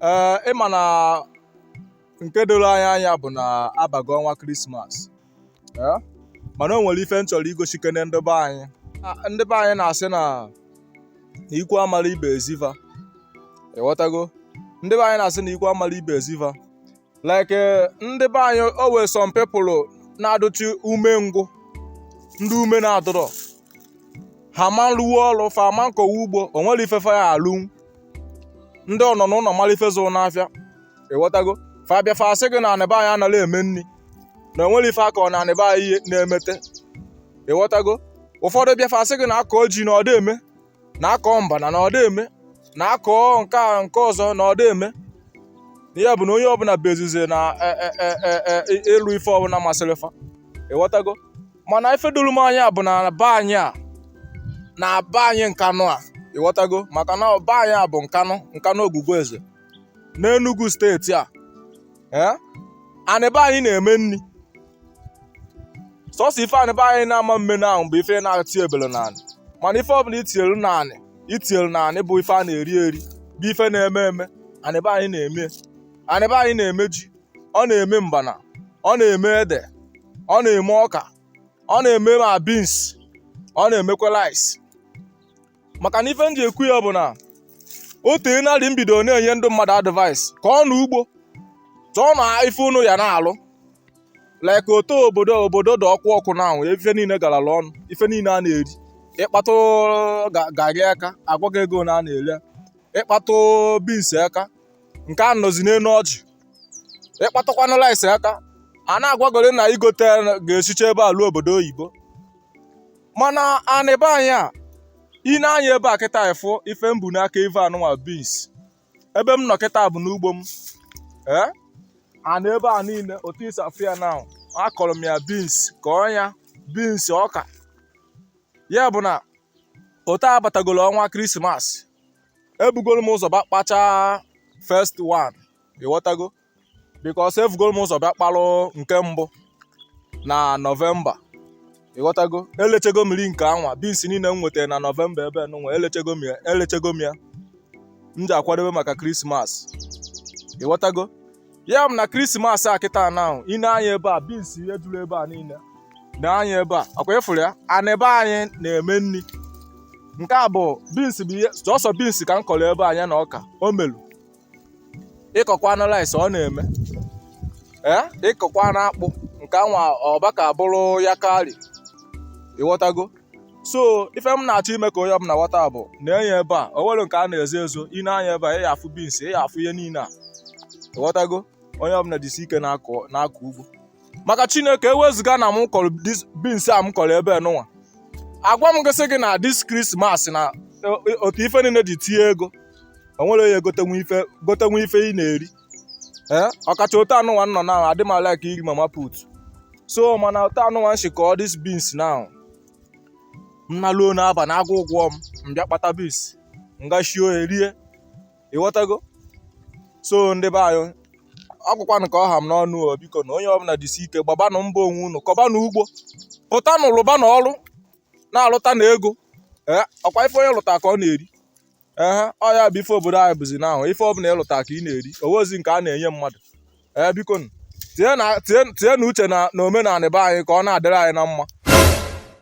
ee ịma na nke doro anyị anya bụ na abago ọnwa krismas ee mana o nwere ife m chọrọ igosikene ndị be anyị A- ndị be anyị na-asị na na ikwu amara ibe ezi va ịghọtago ndị be anyị na-asị na ikwu amara ibe eziva like eh, ndị be anyị o nwee some people na-adụchi ume ngwụ ndị ume na-adịrọ ha ama arụwa ọrụ fa ama akọwa ugbo o nwerọ ife fa ya-alụ ndị ọnọ na ụlọ mara ife zụrụ n'afịa ịghọtago fa bịa fa asị gị na anị be anyị anaghị eme nri na o nwerọ ife a kọọ na anị be anyị na-emete ịghọtago ụfọdụ bịa fa asị gị na a kọọ ji na ọ da eme na a kọọ mbana na ọ da eme na a kọọ nke a nke ọzọ na ọ da eme ya bụ na onye ọbụla bịazie na e- e- e- e- e- e- ịlụ ife ọbụla masịrị fa ịghọtago mana ife doro m anya bụ na be anyị a na be anyị nkanụ a ịghọtago maka na be anyị a bụ nkanụ nkanụ ogwugwu eze n'Enugu steeti a ee anị be anyị na-eme nri sọsọ ife anị be anyị na-ama eme na ahụ bụ ife na-etinyebelọ na anị mana ife ọbụla i tinyere na anị i tinyere na anị bụ ife a na-eri eri bụ ife na-eme eme anịba anyị na-eme anịba anyị na-eme ji ọ na-eme mbana ọ na-eme ede ọ na-eme ọka ọ na-eme ma bins ọ na-emekwa rice maka na ife m ji ekwu ya bụ na o teena eri m bido na-enye ndị mmadụ advice kọọnụ ugbo chọọnụ ife unu ya na-alụ like otu obodo obodo dị ọkụ ọkụ na-enwu ife niile galara ọnụ ife niile a na-eri ị kpatụ ga- garị aka a gwa gị ego na a na-ere ya. ị kpatụ bins aka nke a nọzi n'elu ọjị ị kpatụkwanụ rice aka a na-agwagoro na i gote ga-esicha ebe a ruo obodo oyibo mana anị be anyị a i nee anya ebe a kịta ị fụ ife m bu n'aka ive anụnwa beans ebe m nọ kịta bụ n'ugbo m ee anị ebe a niile otu i si afụ ya na akọrọ m ya beans kọọ nya beans ọka ya bụ na otu a batagolo ọnwa krismas ebugoro m ụzọ bịa kpachaa first one ịghọtago because evugoro m ụzọ bịa kpalụ nke mbụ na nọvemba ịghọtago elechego m ri nke anwa bins niile m nwetara na nọvemba ebe nụnwa elechego m ya elechego m ya m ji akwadebe maka krismas ịghọtago ya bụ na krismas a kịta na ahụ i nee anya ebe a bins ihe juru ebe a niile nee anya ebe a ọ kwa ị fụrụ ya anị be anyị na-eme nri nke a bụ bins bụ ihe sọsọ bins ka m kọrọ ebe a nya na ọka o melu ị kọkwanụ rice ọ na-eme ee ị kọkwanụ akpụ nke anwa ọba ka bụrụ ya karị ịghọtago so ife m na-achọ ime ka onye ọbụla ghọta bụ na enye ebe a o nwere nke a na-ezo ezo i nee anya ebe a ị ya afụ beans ị ya afụ ihe niile a ịghọtago onye ọbụla jisi ike na-akọ na-akọ ugbo maka chineke ewezuga na m kọrọ this- beans a m kọrọ ebe nụnwa agwa m gị sị gị na this Christmas na o- o- otu ife niile dị tie ego o nwere onye gotenwu ife gotenwu ife ị na-eri ee ọkacha otu a nụnwa m nọ na adị m a like iri mama put so mana otu a nụnwa m si kọọ this beans na m naluo n'abalị agụụ gụọ m m bịa kpata beans m ga sie ohe rie ịghọtago so ndị be anyị ọ bụkwanụ ka ọ ha m n'ọnụ o biko na onye ọbụla jisi ike gbabanụ mbọ onwe unu kọbanụ ugbo pụtanụ lụbanụ ọrụ na-alụtanụ ego ee ọkwa ife onye lụta ka ọ na-eri ee ọ ya bụ ife obodo anyị bụzi now ife ọbụla ị lụta ka ị na-eri o nwerọzi nke a na-enye mmadụ ee biko nụ, tinye na- tinye- tinyenụ uche na na omenala be anyị ka ọ na-adịrị anyị na mma